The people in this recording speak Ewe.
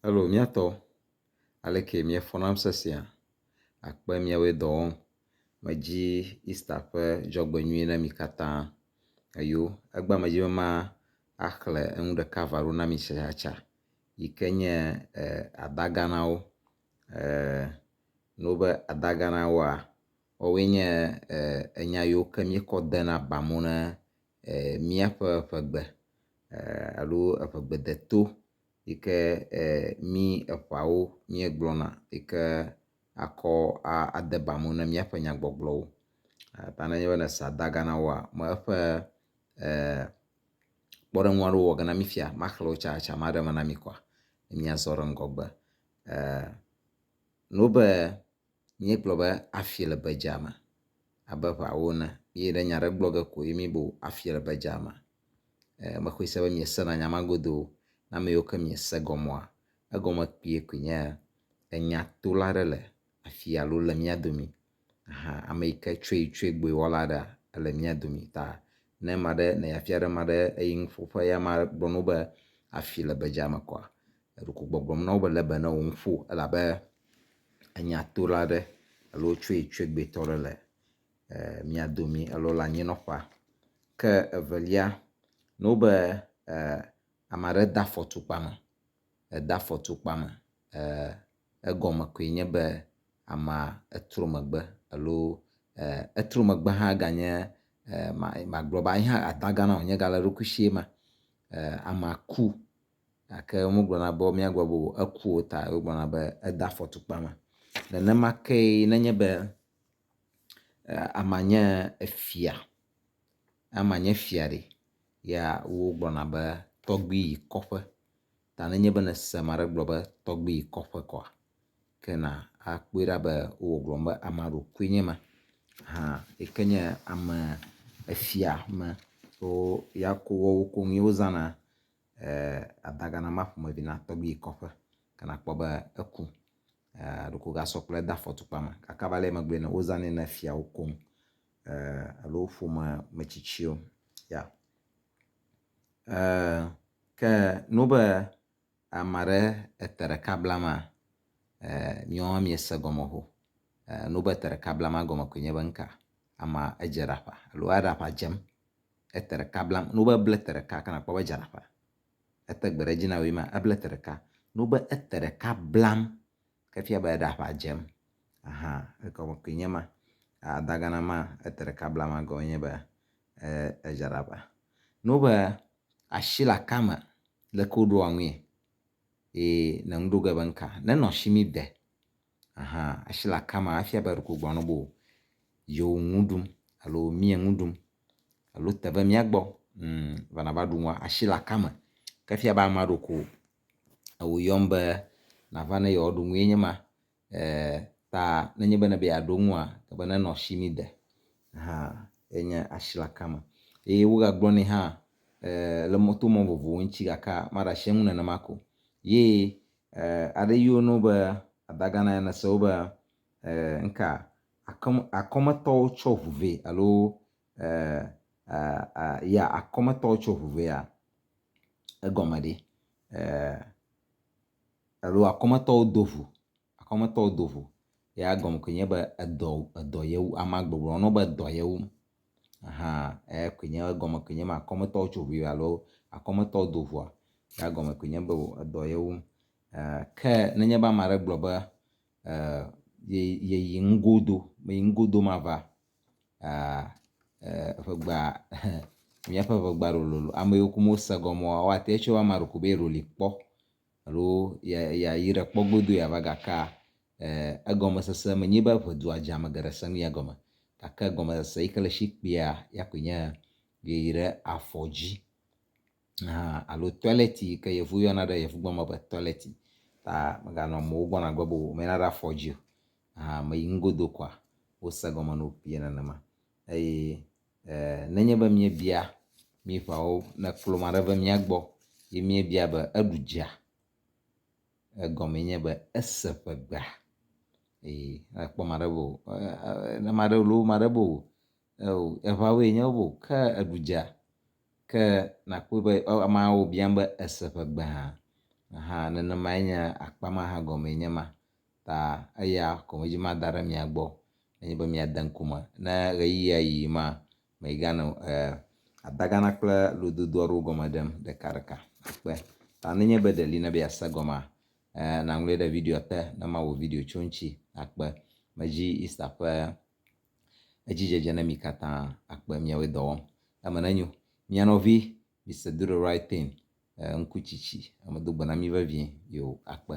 Alo mía tɔ, aleke miefɔ nam sesea? Akpe miawoe dɔ wɔm. Medi Easter ƒe dzɔgbenyui na mi katã. Eyo, egbea medzi be ma axle enu ɖeka va ɖo na mi tsatsa yi ke nye adaganawo. Nɔ be adaganawoa, woawoe nye enya yiwo ke miekɔ dena ba mo ne míaƒe ƒegbe alo eƒegbedeto yi ke mí eƒeawo míegblɔna yi ke akɔ ade ba me na míaƒe nyagbɔgblɔwo. Ta ne enye be èsa daga na woa, me eƒe kpɔɖeŋu aɖewo wɔwɔ ge na mí fia maxlẽ wo tsatsa maɖe eme na mí kɔa, míazɔ ɖe ŋgɔgbe. Míegblɔ be afie le bedzea me abe ŋawo ene ye ɖe nya aɖe gblɔ ge ko ye míbu afie le bedzea me. E, mexɔe se be miesena nya ma godoo. Na ame yiwo ke miese gɔmea, egɔme kpuie koe nye enyatola aɖe le afii alo le mía domi. Aha, ame yi ke tsoe tsoe gboe wɔla aɖea, ele mía domi. Ta ne ame aɖe, ne yeafia ɖe ame aɖe eyi nuƒoƒe ye amea gblɔ na wo be afii le bedzea me kɔa, Eɖeko gbɔgblɔm na wo be lebe ne wo ŋu ƒo elabe enyatola aɖe alo tsoetsoegbetɔ aɖe le e mia domi alo le anyinɔƒea. Ke evelia ne wobe e ame aɖe de afɔ tukpa me, ede afɔ tukpa me e egɔme koe nye be amea etrɔ megbe alo e etrɔ megbe hã ganye e ma magblɔ be ye hã atagã na o nye gale eɖokui sie ma e amea ku gake womegblɔna be míagblɔ be eku o ta wogblɔna be ede afɔtukpa me. Nenema kee nenye be amea nye efia, amea nye fia ɖe ya wogblɔna be tɔgbui yi kɔƒe ta nenye be nèse ame aɖe gblɔ be tɔgbui yi kɔƒe koa ke na akpɔe ɖa be wowɔ gblɔm be ame aɖe koe nye ma hã yi ke nye ame efia me wo ya ko woawo ko ŋue wozãna. Ada Ghana ma ƒomevi na tɔgbui yi kɔƒe ke nakpɔ be eku. Ɖeko wogasɔ kplɔe de afɔtukpa me. Kaka va le megbe nɛ, wozanɛ na fiawo koŋ alo ƒome metsitsiwo ya. Ke ne wo be ame aɖe ete ɖeka bla ema, nyɔa miese gɔme o. Ne wo be ete ɖeka bla ema gɔme koe nye be nuka? Amea edze ɖaƒa alo eɖe aƒa dzem. ete ɖeka blam, ne wobe ble ete ɖeka ke nakpɔ be edzana ƒã. Ete gbe ɖe edzi na wòe ma, eble ete ɖeka. Ne wobe ete ɖeka blam ke efia be eɖe aƒã dzem. Aha, egɔme koe nye ma. Adagana ma, ete ɖeka blam ma gɔme nye be edzana ƒã. Ne wobe ashi le aka me, leke woɖoa ŋui? Ye nɔ ŋɖo ge be ŋka, ne nɔ shi mi de. Aha asi le akama efia be ɖeko gbɔna be yewo nu ɖum alo mia nu ɖum alo te be mia gbɔ va na va ɖu nua. Asi le akama ke efia be ame aɖewo ko ewo yɔm be na va ne yewoa ɖu nue nye ma. Ta ne nye be na be yewoa ɖu nua ele be ne nɔ asi ne de. Aha ye nye asi le akama. Eye wo ga gblɔ nɛ hã le mɔ to mɔ vovovowo ŋuti gake maɖe asi eŋu nenema ko o. Ye E, aɖe yiwo no be adaga na ene se wo be e, nka akɔme, akɔmetɔwo tsɔ ʋu vɛ alo e, a, a, ya akɔmetɔwo tsɔ ʋu vɛ ya egɔme ɖi e, alo akɔmetɔwo do ʋu akɔmetɔwo do ʋu ya egɔme koe nye be edɔ edɔ yewu amea gbɔgblɔ no be edɔ yewum. Aha eya koe nye egɔme koe nye ema akɔmetɔwo tso ŋui alo akɔmetɔwo do ŋua ya gɔme koe nye be edɔ ye wum. E ke nenye be ame aɖe gblɔ be e ye yeyi nugo do meyi nugo do mava a e ŋegba ehe míaƒe ŋegba lololo ame yiwo kum wose gɔmea woate ŋu atsɔe be ame aɖe koe be ye ɖoli kpɔ. alo yeayi ɖe kpɔ godoo yeava gaka e, egɔmesese menye be ʋe dua dze ame geɖe sẽŋ ya gɔme, gake gɔmesese yi ke le esi kpuia ya koe nye yeyi ɖe afɔ dzi hã alo tɔlɛti yi ke yevu yɔna ɖe yevugbe me be tɔlɛti ta meganɔ amewo gbɔ nagbe be womena ɖe afɔ dzi o. Hã meyi nugodo koa wose gɔme na wo kpuie nenema eye nenye be míebia mí ƒeawo ne klo ma ɖe ve mía gbɔ ye míebia be eɖu dzea, egɔme nye be ese ƒe gbea. Eye akpɔ ma ɖe be o ne ma ɖe loo ma ɖe be o eo eŋawoe nye be o ke eɖu dzea ke nakpɔe be ameawo biam be ese ƒe gbea hã nenemae nye akpa ma hã gɔme enye ma. ta eya ko medzi mada ɖe mia gbɔ nenye be miade ŋku me. Ne ɣeyiɣia yi ma, miganɔ e adagana kple lododo aɖewo gɔme ɖem ɖekaɖeka kpe. Ta nenye be ɖe li na be yease gɔmea, e naŋlɔe ɖe videoa te ne mawɔ video tso eŋuti akpe. Medzi Easter ƒe edzidzedze ne mi katã akpe miawoe dɔ wɔm. Eme nenyo. Mia nɔvi Mister Do The Right Thing ŋkutsitsi. Medo gbe na mí vevie. Yoo, akpe.